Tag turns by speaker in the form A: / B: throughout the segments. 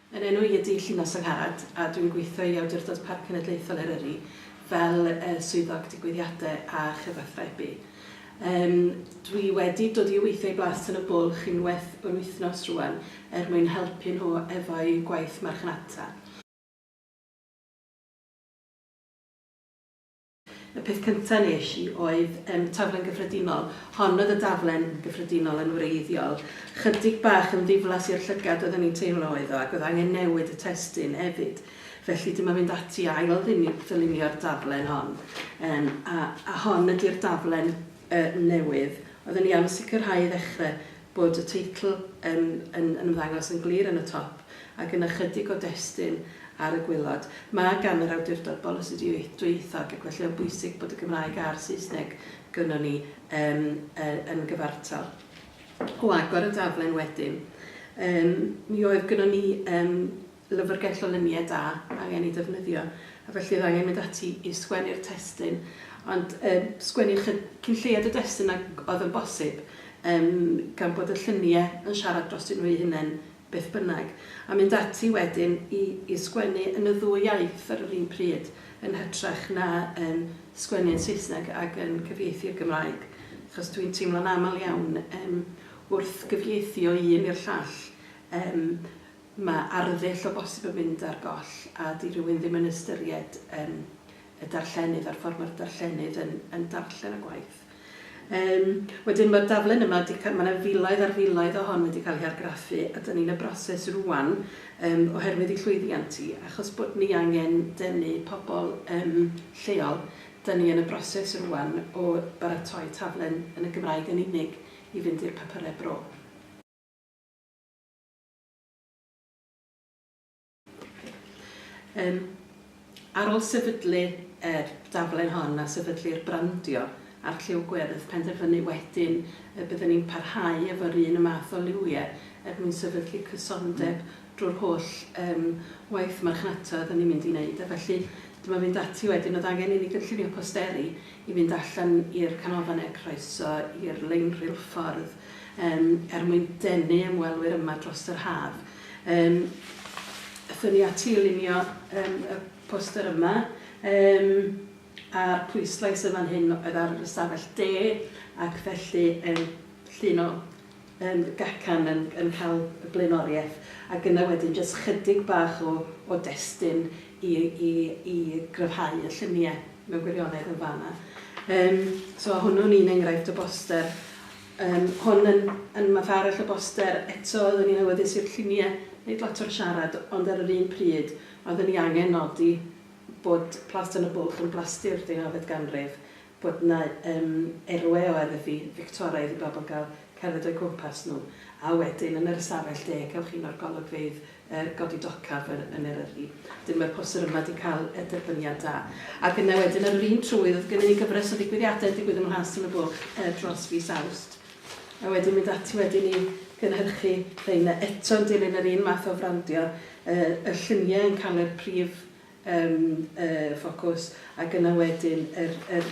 A: Yn enw i ydy Llinos Angharad a dwi'n gweithio i Awdurdod Parc Cenedlaethol Eryri fel yy Swyddog Digwyddiade a Chyfathrebu. Yym dwi wedi dod i weithio i Blas Tân y Bwlch unwaith yr wythnos rŵan er mwyn helpu nhw efo'u gwaith marchnata. Y peth cynta nes i oedd yym taflen gyffredinol. Hon oedd y daflen gyffredinol yn wreiddiol. Chydig bach yn ddiflas i'r llygad oedd o'n i'n teimlo oedd o ac oedd angen newid y testun hefyd. Felly dyma fynd ati i ail ddinu- ddylunio'r daflen hon. Yym a a hon ydi'r daflen yy newydd. Oeddwn i am sicrhau i ddechre bod y teitl yn yn yn ymddangos yn glir yn y top ac yn ychydig o destun ar y gwaelod. Mae gan yr awdurdod bolisi dwyieithog ac felly mae'n bwysig bod y Gymraeg a'r Saesneg gynnon ni yym yy yn gyfartal. O agor y daflen wedyn yym mi oedd gynnon ni yym Llyfrgell o luniau da angen ei defnyddio, a felly oedd angen mynd ati i sgwennu'r testun, ond yym sgwennu ychy- cyn lleied o destun ag oedd yn bosib, yym gan bod y lluniau yn siarad drostyn nhw eu hunain beth bynnag, a mynd ati wedyn i i sgwennu yn y ddwy iaith ar yr un pryd, yn hytrach na yym sgwennu yn Saesneg ac yn cyfieithu i'r Gymraeg, achos dwi'n teimlo'n aml iawn yym wrth gyfieithu o un i'r llall, yym, Mae arddull o bosib yn mynd ar goll a 'di rhywun ddim yn ystyried yym y darllenydd a'r ffordd mae'r darllenydd yn yn darllen y gwaith. Yym wedyn mae'r darllen yma 'di ca- mae 'na filoedd ar filoedd o hon wedi cael ei argraffu a 'dan ni'n y broses rŵan yym oherwydd ei llwyddiant hi achos bod ni angen denu pobl yym lleol 'dan ni yn y broses rŵan o baratoi taflen yn y Gymraeg yn unig i fynd i'r papurau bro. Yym, ar ôl sefydlu yr daflen hon a sefydlu'r brandio a'r lliw gwyrdd, penderfynu wedyn y bydden ni'n parhau efo'r un y math o liwiau er mwyn sefydlu cysondeb drwy'r holl yym waith marchnata oedden ni'n mynd i wneud. A felly, dyma fynd ati wedyn, oedd angen i ni gynllunio posteri i fynd allan i'r canolfannau croeso, i'r lein reilffordd, yym, er mwyn denu ymwelwyr yma dros yr haf. Yym, aethon ni ati i lunio yym, y poster yma, yym, a'r pwyslais yn fan hyn oedd ar yr ystafell de, ac felly, yym, llun o yn gacan yn yn cael y blaenoriaeth ac yna wedyn jyst chydig bach o o destun i i i gryfhau y llunie mewn gwirionedd yn fana. Yym so a hwnnw'n un enghraifft o boster yym hwn yn yn math arall o boster eto oeddwn i'n awyddus i'r llunie neud lot o'r siarad ond ar yr un pryd oeddwn i angen nodi bod Plas Tân y Bwlch yn blastu'r deunawfed ganrif bod 'na yym erwe o erddi Fictoraidd i bobl gael cerdded o'u cwmpas nhw, a wedyn yn yr ystafell de cewch un o'r golygfeydd yy godi docaf yy yn Eryri. Wedyn mae'r poster yma 'di cael yy derbyniad da. Ac yna wedyn ar yr un trwydd oedd gynnon ni gyfres o ddigwyddiadau yn digwydd ym Mhlas Tân y Bwlch yy dros fis Awst. A wedyn mynd ati wedyn i gynhyrchu rheina eto yn dilyn yr un math o frandio yy y lluniau yn cael yr prif yn y ffocws ac yna wedyn yr yr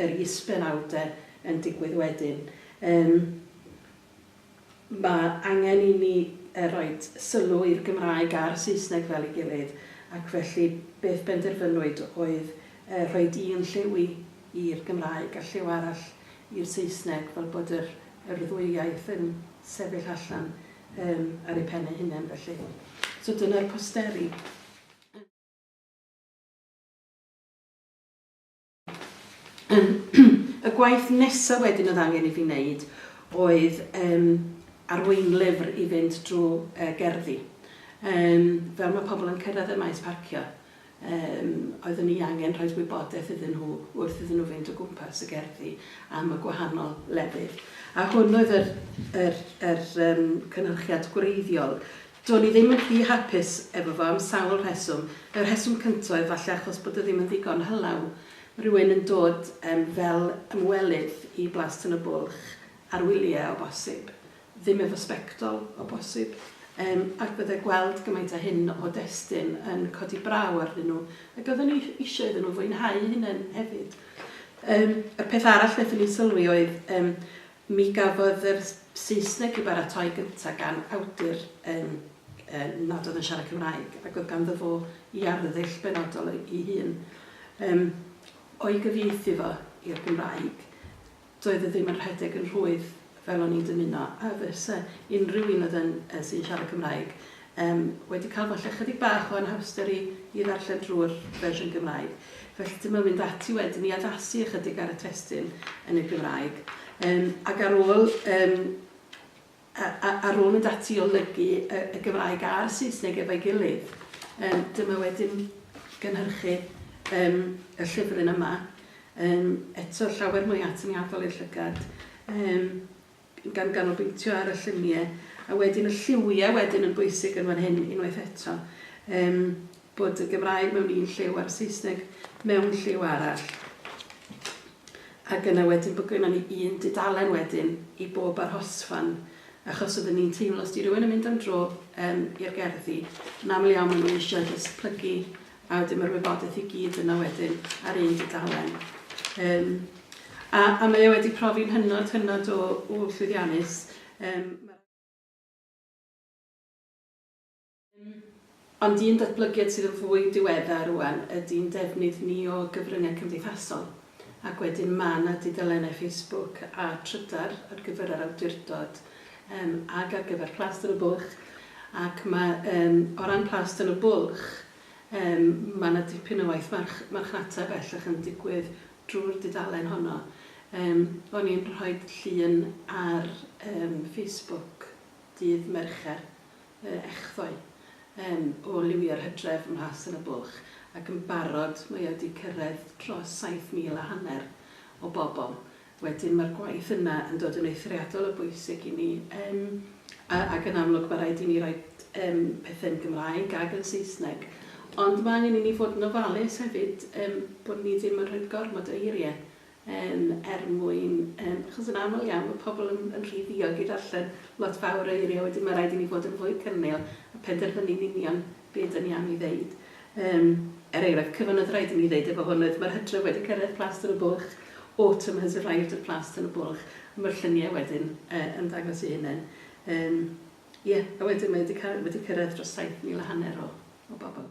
A: yr is-benawdau yn digwydd wedyn. Yym mae angen i ni yy roi sylw i'r Gymraeg a'r Saesneg fel ei gilydd ac felly beth benderfynwyd oedd yy rhoi un lliw i'r Gymraeg a lliw arall i'r Saesneg fel bod yr yr ddwy iaith yn sefyll allan yym ar eu pen eu hunain felly. So dyna'r posteri. Y gwaith nesa wedyn oedd angen i fi wneud oedd yym arweinlyfr i fynd drwy yy gerddi. Yym fel mae pobl yn cyrraedd y maes parcio yym oeddwn i angen rhoid gwybodaeth iddyn nhw wrth iddyn nhw fynd o gwmpas y gerddi am y gwahanol lefydd. A hwn oedd yr yr yr yym cynhyrchiad gwreiddiol Do'n i ddim yn rhy hapus efo fo am sawl rheswm. Y rheswm cynta oedd falle achos bod o ddim yn ddigon hylaw. Rhywun yn dod yym fel ymwelydd i Blas Tân y Bwlch ar wylie o bosib, ddim efo sbectol o bosib, yym ac bydde gweld gymaint a hyn o destun yn codi braw arnyn nhw, ac oedden ni isio iddyn nhw fwynhau eu hunain hefyd. Yym y peth arall nethon ni sylwi oedd yym Mi gafodd yr Saesneg ei baratoi gyntaf gan awdur yn nad oedd yn siarad Cymraeg ac oedd ganddo fo ei arddull benodol ei hun. Yym, o'i gyfieithu fo i'r Gymraeg, doedd o ddim yn rhedeg yn rhwydd fel o'n i'n dymuno a fysa unrhyw un oedd yn, yy, sy'n siarad Cymraeg Yym, wedi cael falle chydig bach o anhawster i i ddarllen drwy'r fersiwn Gymraeg, felly dyma fynd ati wedyn i addasu ychydig ar y testun yn y Gymraeg. Yym, ac ar ôl yym, a, a, ar ôl mynd ati i olygu y, y Gymraeg a'r Saesneg efo'i gilydd, yym, dyma wedyn gynhyrchu yym, y llyfryn yma, yym, eto llawer mwy atyniadol i'r llygad. Yym. gan ganolbwyntio ar y llunie a wedyn y lliwie wedyn yn bwysig yn fan hyn unwaith eto yym bod y Gymraeg mewn un lliw a'r Saesneg mewn lliw arall ag yna wedyn bod gynnon ni un dudalen wedyn i bob arhosfan achos oedden ni'n teimlo os di rywun yn mynd am dro yym i'r gerddi yn aml iawn ma' nhw eisiau jyst plygu A wedyn mae'r wybodaeth i gyd yna wedyn ar un dudalen. Um, a, a mae o wedi profi'n hynod, hynod o, o llwyddiannus. Um, Ond un datblygiad sydd yn fwy diweddar rwan ydy'n defnydd ni o gyfryngau cymdeithasol. Ac wedyn ma' 'na dudalennau Facebook a Trydar ar gyfer yr awdurdod yym ag ar gyfer Plas Dyn y Bwlch ac ma' yym o ran Plas Dyn y Bwlch yym ma' 'na dipyn o waith march- marchnata bellach yn digwydd drw'r dudalen honno. Yym o'n i'n rhoid llun ar yym Facebook dydd Mercher yr echddoe yn ôl liwio'r hydref ym Mhlas yn y Bwlch ac yn barod mae o 'di cyrraedd dros 7,000 a hanner o bobl wedyn mae'r gwaith yna yn dod yn eithriadol o bwysig i ni yym a ac yn amlwg mae rhaid i ni roi yym pethe'n Gymraeg ag yn Saesneg ond mae angen i ni fod yn ofalus hefyd yym bod ni ddim yn rhoid gormod o eirie Yym, er mwyn, yym, achos yn aml iawn mae pobl yn yn rhy ddiog i ddarllen lot fawr o eiriau, wedyn mae'n rhaid i ni fod yn fwy cynnil a penderfynu'n union be ydyn ni am ei ddeud. Yym, er enghraifft, cyfan oedd rhaid i mi ddeud efo hwn oedd mae'r hydref wedi cyrraedd Plas Tân y Bwlch, Autumn has arrived at Plas Tân y Bwlch, a mae'r lluniau wedyn yy yn dangos ei hunain. Yym, ie, a wedyn mae wedi ca- wedi cyrraedd dros 7,000 a hanner o o bobl.